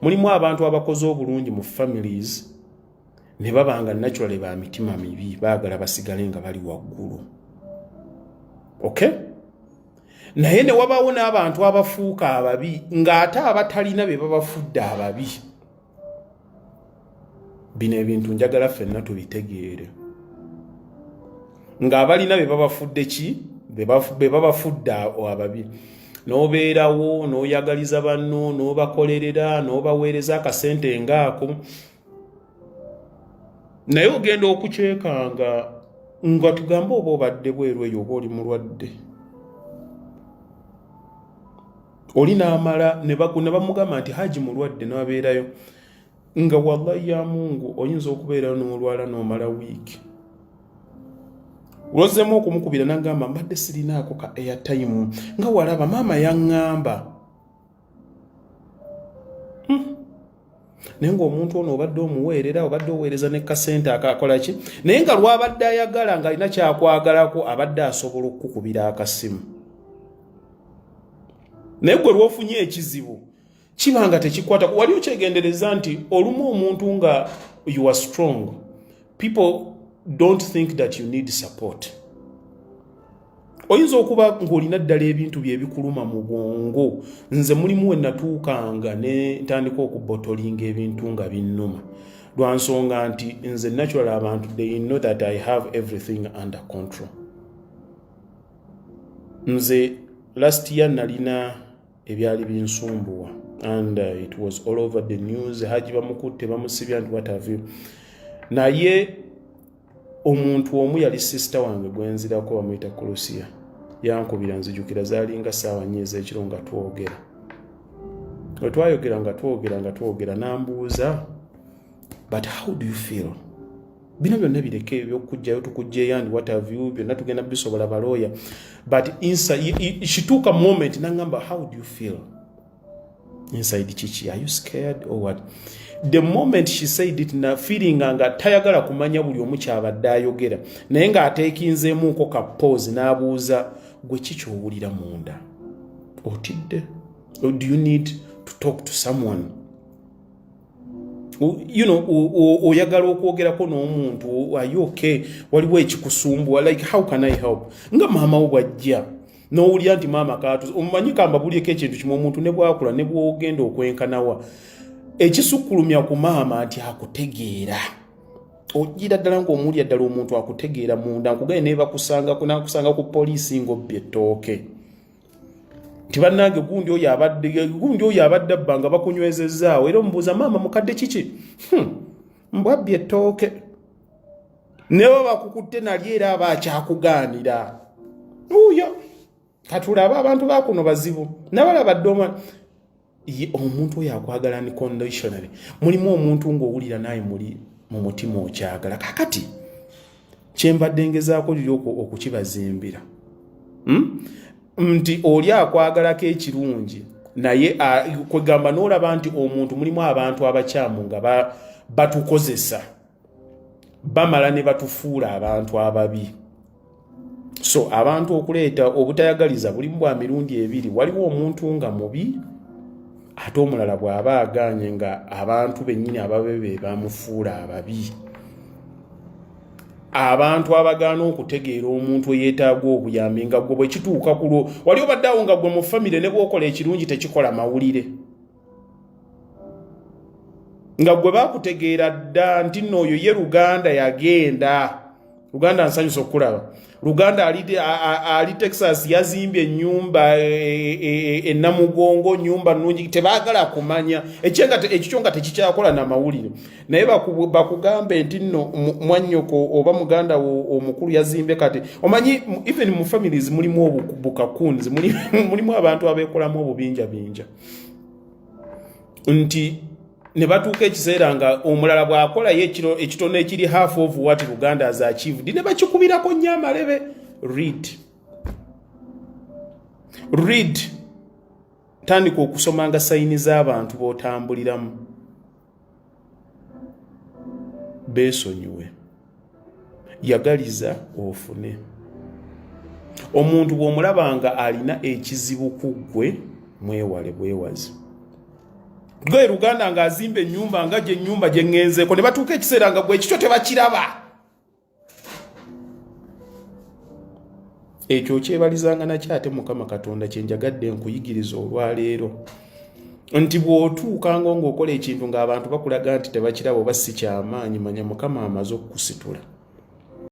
mulimu abantu abakoze obulungi mu families ne baba nga naturally ba mitima mibi baagala basigale nga bali waggulu okay naye ne wabaawo n'abantu abafuuka ababi ng'ate abatalina be babafudde ababi bino ebintu njagala ffenna tubitegeere ng'abalina be babafudde ki be babafudde ababi n'obeerawo n'oyagaliza banno n'obakolerera n'obaweereza akasente ngaako naye ogenda okukyekanga nga tugambe oba obadde bweru eyo oba oli mulwadde oli n'amala ne bamugamba nti haji mulwadde n'abeerayo nga wallahi ya mungu oyinza okubeerayo n'olwala n'omala wiiki lwozeemu okumukubira nagamba mbadde sirinaako ka airtime nga walaba maama yaŋŋamba hmm. naye ngaomuntu ono obadde omuweerera obadde oweereza ne kasente akakola ki naye nga lwabadde ayagala ng'alina kyakwagalako abadde asobola okukukubira akasimu naye gwe lwofunye ekizibu kiba nga tekikwata wali okyegendereza nti olumu omuntu nga you are strong people don't think that you need support oyinza okuba ng'olina ddala ebintu byebikuluma mu bwongo nze mulimu we natuukanga ne ntandika okubotolinga ebintu nga binnuma lwa nsonga nti nze natural abantu they know that i have everything under control nze last year nalina ebyali binsumbuwa and uh, it was all over the news haji bamukutte bamusibya nti watavu naye omuntu omu yali sisita wange gwenzirako bamuyita kulusiya yankubira nzijukira zalinga saawa nyo ezekiro nga twogera wetwayogera nga twogera nga twogera nambuuza but how do you feel bino byonna bireke ebyokujjayo tukujjeyo and what have you byonna tugenda bisobola balooya but inside shituuka moment nangamba how do you feel inside kiki are you scared or what the moment she said it na feelinga nga tayagala kumanya buli omu kyabadde ayogera naye ng'ateekinzeemuuko ka pose n'abuuza gwe kiki owulira munda otidde do you need to talk to someone you know oyagala okwogerako n'omuntu are you okay waliwo ekikusumbuwa like how can i help nga maama wo bwajja nowulira nti maama katu omumanyi kambabulyeko ekintu kimu omuntu ne bwakula ne bwogenda okwenkanawa ekisukkulumya ku maama nti akutegeera ojira ddala ngaomulya ddala omuntu akutegeera munda nkugaye nebakusanga nakusanga ku poliisi ngaobbye ettooke tibanange gundi oyo abadde gundi oyo abadde abba nga bakunywezezaawo era omubuuza maama mukadde kiki hmm, mbwabbi ettooke newe bakukutte nali era aba akyakugaanira uyo katulaba abantu bakuno bazibu nabalabadde omwana omuntu oyo akwagala ni conditionally mulimu omuntu ng'owulira naye muli mu mutima okyagala kakati kyembadde ngezaako liri okukibazimbira hmm? nti oli akwagalako ekirungi naye kwegamba n'olaba nti omuntu mulimu abantu abakyamu nga batukozesa bamala ne batufuula abantu ababi so abantu okuleeta obutayagaliza bulimu bwa mirundi ebiri waliwo omuntu nga mubi ate omulala bw'aba agaanye nga abantu bennyini ababe be bamufuula ababi abantu abagaana okutegeera omuntu eyeetaaga obuyambi nga gwe bwe kituuka kulwo wali obadde awo nga gwe mu famire ne bwokola ekirungi tekikola mawulire nga gwe bakutegeera dda nti nno oyo ye luganda yagenda luganda nsanyusa okukulaba luganda ali, ali texas yazimbye enyumba enamugongo e, e, e nyumba nungi tebagala kumanya ekikyo nga tekikyakola namawulire naye bakugambe nti nno mwanyoko oba muganda wo omukulu yazimbye kati omanyi even mu families mulimu obukakunzi mulimu abantu abekolamu obubinjabinja nti ne batuuka ekiseera nga omulala bw'akolayo ekitono ekiri half of what luganda as achieved ne bakikubirako nnyo amalebe read read tandika okusomanga sayini z'abantu b'otambuliramu beesonyiwe yagaliza ofune omuntu bw'omulaba nga alina ekizibu ku ggwe mwewale bwewazi gwe luganda ng'azimba ennyumba nga gye nnyumba gye ŋŋenzeeko ne batuuka ekiseera nga gwe ekikyo tebakiraba ekyo okyebalizanga nakyo ate mukama katonda kyenjagadde nkuyigiriza olwaleero nti bw'otuukanga ng'okola ekintu ng'abantu bakulaga nti tebakiraba oba si kyamaanyi manya mukama amaze okukusitula